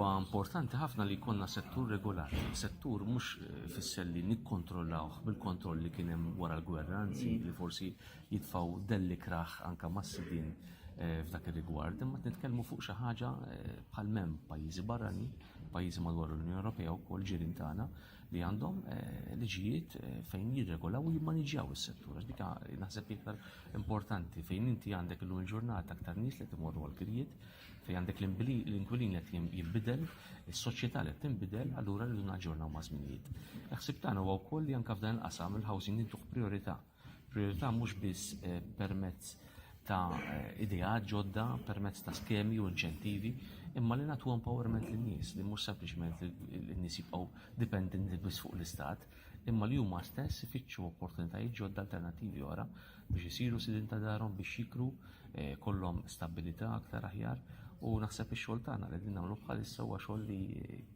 Huwa importanti ħafna li jkollna settur regolari. Settur mhux eh, fisser li nikkontrollawh bil-kontroll li kien hemm wara l-gwerra, anzi mm. li forsi jitfaw delli kraħ anka massidin eh, f'dak ir-rigward, imma nitkellmu fuq xi ħaġa eh, bħal mem pajjiżi barrani, pajjiżi madwar l-Unjoni Ewropea wkoll ġirien tagħna, li għandhom eh, liġijiet eh, fejn jirregolaw u jimmaniġjaw is-settur. Għax dika naħseb iktar importanti fejn inti għandek l il-ġurnata aktar nies li timorru għal-kirjiet, fejn għandek l-inkwilin li jibbidel, is-soċjetà li tinbidel, allura rridu naġġornaw ma' żminijiet. Naħseb tagħna huwa wkoll li anke f'dan il-qasam il-housing intuħ priorità. Priorità mhux biss eh, permezz ta' eh, idea ġodda permezz ta' skemi u inċentivi, imma li natu empowerment lin nies li mhux sempliċement lin nies jibqgħu dipendenti biss fuq l-istat, imma li huma stess ifittxu opportunitajiet ġodda alternattivi oħra biex isiru sidin ta' darhom biex jikru eh, kollhom stabilità aktar aħjar u naħseb ix-xogħol tagħna li din nagħmlu bħalissa huwa xogħol li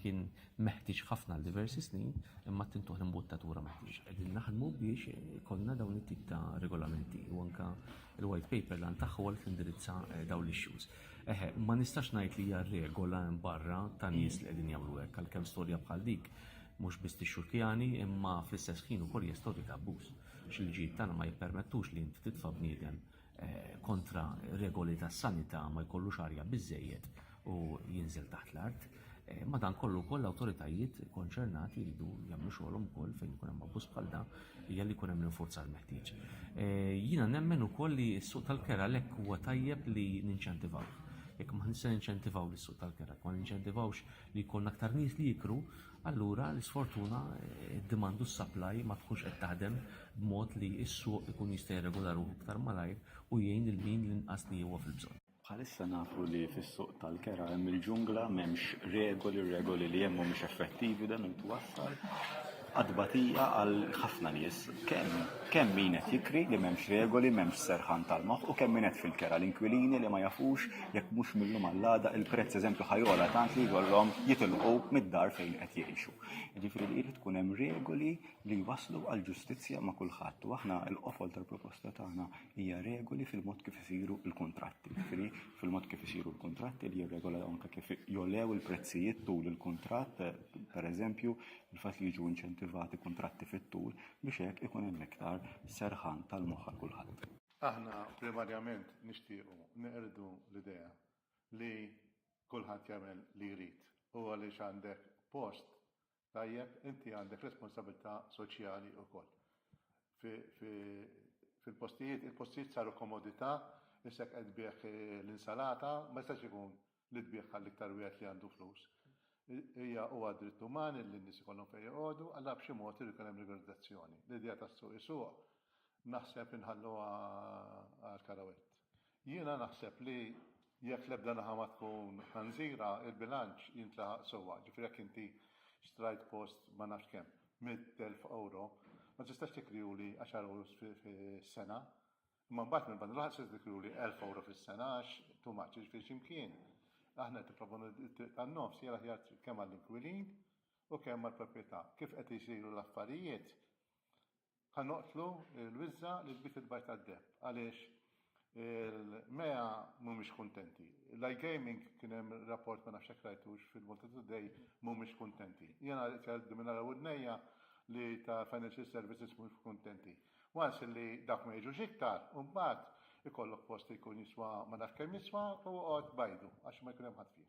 kien meħtieġ ħafna għal diversi snin imma tintuħ l-imbuttatura meħtieġa. Qegħdin naħdmu biex konna dawn it-tip ta' regolamenti u anka l-white paper lan tagħha għal tindirizza eh, dawn l-issues. Eħe, ma nistax ngħid li hija regola hemm barra ta' nies li qegħdin jagħmlu hekk għalkemm storja bħal dik mhux biss tixxurkjani imma fl-istess ħin ukoll hija storja ta' abbuż. X'il-ġid tagħna ma jippermettux li inti titfa' bniedem Eh, kontra regoli tas sanità ma jkollux arja biżejjed u jinżel taħt l-art. Eh, madan kollu koll l-autoritajiet konċernati jridu jagħmlu xogħolhom ukoll fejn ikun hemm abbuż bħal dan hija li jkun hemm l-infurzar meħtieġ. Eh, jiena nemmen ukoll li s-suq tal-kera lek huwa tajjeb li ninċentivaw. Jekk ma nista' ninċentivaw lis-suq tal-kera, ma ninċentivawx li jkun aktar nies li jikru, Allura, l-isfortuna, id-demand u s-supply ma tkunx qed taħdem b'mod li s-suq ikun jista' jirregola ruħu iktar malajr u jgħin lil min l-inqas li huwa fil-bżonn. Bħalissa nafu li fis-suq tal-kera hemm il-ġungla, m'hemmx regoli, r-regoli li hemm mhumiex effettivi dan irid iwassal għad-tbatija għal ħafna nies. Kemm kemm min qed jikri li m'hemmx regoli, m'hemmx serħan tal-moħħ u kemm min qed fil-kera l-inkwilini li ma jafux jekk mhux mill-lum għall-għada il-prezz eżempju ħajola tant li jkollhom jitilqu mid-dar fejn qed jgħixu. Ġifieri li jrid tkun hemm regoli li waslu għal ġustizzja ma' kulħadd u aħna l-qofol tal-proposta tagħna hija regoli fil-mod kif isiru l-kuntratti. Ġifieri fil-mod kif isiru l-kuntratti li jirregola anke kif jolew il-prezzijiet tul il-kuntratt, pereżempju, il-fatt li jiġu inċentivati kuntratti fit-tul biex hekk ikun hemm iktar serħan tal-moħħ kulħadd. Aħna primarjament nixtiequ neqirdu l-idea li kulħadd jagħmel li jrid u għaliex għandek post tajjeb inti għandek responsabilità soċjali wkoll. Fil-postijiet, il-postijiet saru komodità, issek qed bih l-insalata, ma jistax ikun li tbigħ għall-iktar wieħed li għandu flus. Hija huwa dritt uman li n-nies ikollhom fejn joqogħdu, allura b'xi mod irid ikun hemm regolizzazzjoni. L-idea tas-suq isuq naħseb inħalluha għal Karawett. Jiena naħseb li jekk l-ebda naħa ma tkun ħanżira, il-bilanċ jintlaħaq sewwa. Ġifieri jekk inti xtrajt post ma nafx kemm, 100,000 ewro, ma tistax tikriuli 10 ewros fis-sena. Imma mbagħad minn banda l-oħra se tiftakru li elf ewro fis-sena għax too much, jiġifieri x'imkien aħna qed nipproponu li t-triq tan-nofs hija l-aħjar triq kemm għall-inkwilin u kemm għall-proprjetà. Kif qed isiru l-affarijiet ħa noqtlu l-wiżża li l-bit il-bajt tad-deheb għaliex il-MEA mhumiex kuntenti. L-iGaming kien hemm rapport ma nafx jekk rajtux fil-Malta Today mhumiex kuntenti. Jiena qed jgħidduli minn ara wudnejja li ta' financial services mhux kuntenti. Once li dawk ma jiġux iktar, imbagħad ikollok post li jkun jiswa ma nafx kemm jiswa u oqgħod b'għajdu għax ma jkun hemm ħadd fih.